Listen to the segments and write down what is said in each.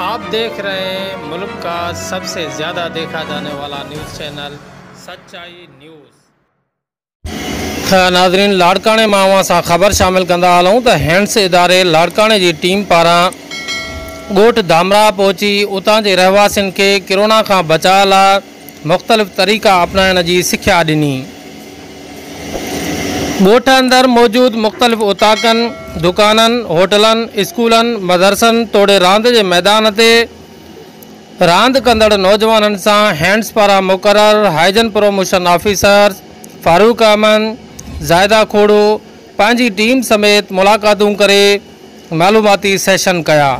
آپ ديکھ رھي ھين ملڪ کا سب سي زياده ديکھا جاني والا نيوز چينل سچائي نيوز. تھ ناظرين لاڙڪاڻي مان اوھان سان خبر شامل ڪندا ھلون تھ ھينڊس اداري لاڙڪاڻي جي ٽيم پاران ڳوٺ ڌامراھ پھچي اتان جي رھواسين کي ڪرونا کان بچاء لاء مختلف طريقا اپنائڻ جي سکيا ڏني. ڳوٺ اندر موجود مختلف اوطاقن، دڪانن، هوٽلن، اسڪولن، مدرسن توڙي راند جي ميدان تي راند ڪندڙ نوجوانن سان هينڊز پاران مقرر hygiene promotion officers Farooq Ahmed, Zahida Khoro, پنهنجي ٽيم سميت ملاقاتون ڪري معلوماتي سيشن ڪيا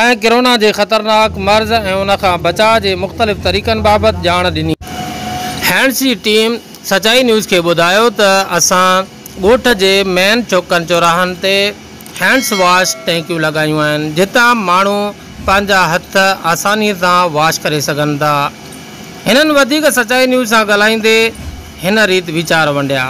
۽ ڪرونا جي خطرناڪ مرض ۽ ان کان بچاء جي مختلف طريقن بابت ڄاڻ ڏني. هينڊز جي ٽيم سچائي نيوز کي ٻڌايو ته اسان ڳوٺ جي مين چوڪن چوراهن تي هينڊز واش ٽينڪيون لڳايون آهن جتان ماڻهو پنهنجا هٿ آساني سان واش ڪري سگهن ٿا. هنن وڌيڪ سچائي نيوز سان ڳالهائيندي هن ريت ويچار ونڊيا.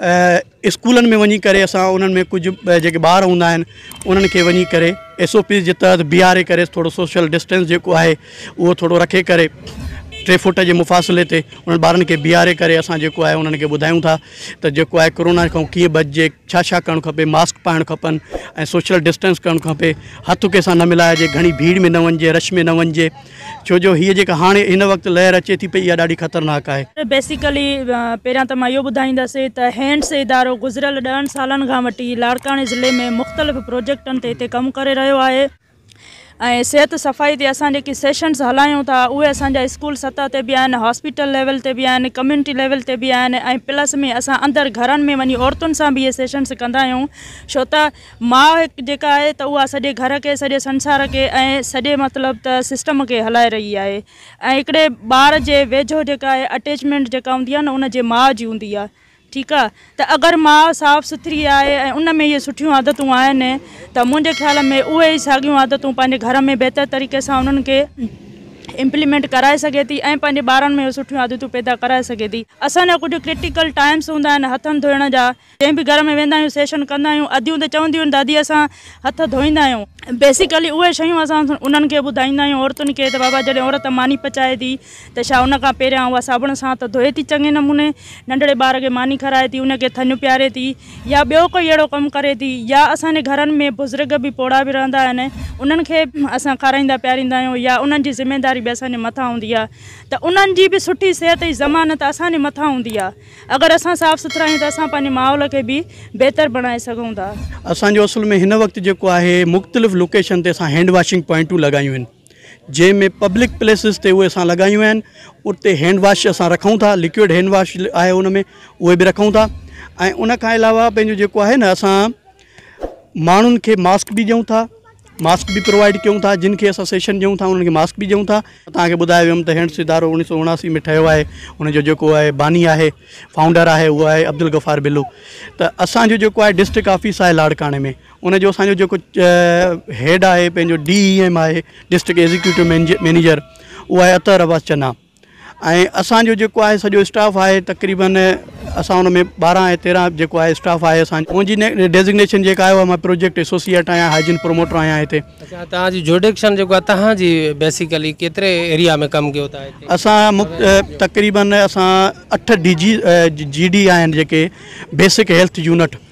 اسڪولن ۾ وڃي ڪري اسان انهن ۾ ڪجهه جيڪي ٻار هوندا آهن انهن کي وڃي ڪري ايس او پيز جي تحت بيهاري ڪري ٿورو سوشل ڊسٽينس جيڪو آهي اهو ٿورو رکي ڪري ٽي فوٽ جي مفاصلي تي انهن ٻارن کي بيهاري ڪري اسان جيڪو آهي انهن کي ٻڌايون ٿا ته جيڪو آهي ڪرونا کان ڪيئن بچجي ڇا ڇا ڪرڻ کپي ماسڪ پائڻ کپن ۽ سوشل ڊسٽينس ڪرڻ کپي هٿ ڪنهن سان نه ملائجي گهڻي ڀيڙ ۾ نه وڃجي رش ۾ نه وڃجي ڇو جو هيء جيڪا هاڻي هن وقت لهر اچي ٿي پئي اها ڏاڍي خطرناڪ آهي. بيسيڪلي پهريان ته مان اهو ٻڌائيندس ته هينڊس ادارو گذريل ڏهن سالن کان وٺي لاڙڪاڻي ضلعي ۾ مختلف پروجيڪٽن تي هتي ڪم ڪري رهيو آهي ۽ صحت صفائي تي اسان جيڪي سيشنز هلايون ٿا اهي اسان جا اسڪول سطح تي به آهن هاسپيٽل ليول تي به آهن ڪميونٽي ليول تي به آهن ۽ پلس ۾ اسان اندر گهرن ۾ وڃي عورتن سان به اهي سيشنز ڪندا آهيون ڇو ته ماء هڪ جيڪا آهي ته اها سڄي گهر کي، سڄي سنسار کي ۽ سڄي مطلب ته سسٽم کي هلائي رهي آهي ۽ هڪڙي ٻار جي ويجهو جيڪا آهي اٽيچمينٽ جيڪا هوندي آهي نه ان جي ماء جي هوندي آهي ٺيڪ آهي ته اگر ماء صاف سٿري آهي ۽ ان ۾ اهي سٺيون عادتون آهن ته منهنجي خيال ۾ اهي ئي ساڳيون عادتون پنهنجي گهر ۾ بهتر طريقي سان انهن کي امپليمينٽ ڪرائي سگهي ٿي ۽ پنهنجي ٻارن ۾ اهي سٺيون عادتون پيدا ڪرائي سگهي ٿي. اسان جا ڪجهه ڪرٽيڪل ٽائمس هوندا آهن هٿن ڌوئڻ جا. جنهن به گهر ۾ ويندا آهيون سيشن ڪندا آهيون اديون ته چونديون آهن ته ادي اسان هٿ ڌوئيندا آهيون. بيسيڪلي اهي شيون اسان انهن کي ٻڌائيندا آهيون عورتن کي ته بابا جڏهن عورت ماني پچائي ٿي ته ڇا ان کان پهريان اها صابڻ سان هٿ ڌوئي ٿي چڱي نموني ننڍڙي ٻار کي ماني کارائي ٿي ان کي ٿڃ پياري ٿي يا ٻيو ڪوئي اهڙو ڪم ڪري ٿي يا اسان جي گهرن ۾ بزرگ به پوڙها به رهندا آهن انهن کي اسان کارائيندا پياريندا آهيون يا انهن جي ذميداري به اسان جي مٿان هوندي آهي ته انهن جي به سٺي صحت جي ضمانت اسان جي مٿان هوندي آهي. اگر اسان صاف سٿرا آهيون ته اسان پنهنجي ماحول کي به بهتر بڻائي سگهون ٿا. اسان جو اصل ۾ هن وقت جيڪو آهي مختلف لوڪيشن تي اسان هينڊ واشنگ پوائنٽون لڳايون آهن جنهن ۾ پبلڪ پليسز تي اهي اسان لڳايون آهن اتي هينڊ واش اسان رکون ٿا لڪوئڊ هينڊ واش آهي ان ۾ اهي به رکون ٿا ۽ ان کان علاوه پنهنجو جيڪو آهي نه اسان ماڻهن کي ماسڪ به ڏيون ٿا ماسڪ به پرووائيڊ ڪيون ٿا جن کي اسان سيشن ڏيون ٿا انهن کي ماسڪ به ڏيون ٿا تان کي ٻڌايو ويم ته هينڊس ادارو اوڻيهه سو اڻاسي ۾ ٺهيو آهي ان جو جيڪو آهي باني آهي فائونڊر آهي اهو آهي عبدالغفار بلو ته اسانجو جيڪو آهي ڊسٽرڪ آفيس آهي لاڙڪاڻي ۾ ان جو اسانجو جيڪو هيڊ آهي پنهنجو ڊي اي ايم آهي ڊسٽرڪ ايگزيڪيوٽو مينيجر اهو آهي عطر عباس چنا ۽ اسان جو جيڪو آهي سڄو اسٽاف آهي تقريبن اسان ان ۾ ٻارهن ۽ تيرهن جيڪو آهي اسٽاف آهي اسان منهنجي ڊيزگنيشن جيڪا آهي مان پروجيڪٽ ايسوسيئيٽ آهيان هائجين پروموٽر آهيان هتي اچا تان جي جوڊيڪشن جيڪو آهي تان جي بيسيڪلي ڪيتري ايريا ۾ ڪم ڪيو تان اسان تقريبن اسان اٺ ڊي جي جي ڊي آهن جيڪي بيسڪ هيلٿ يونٽ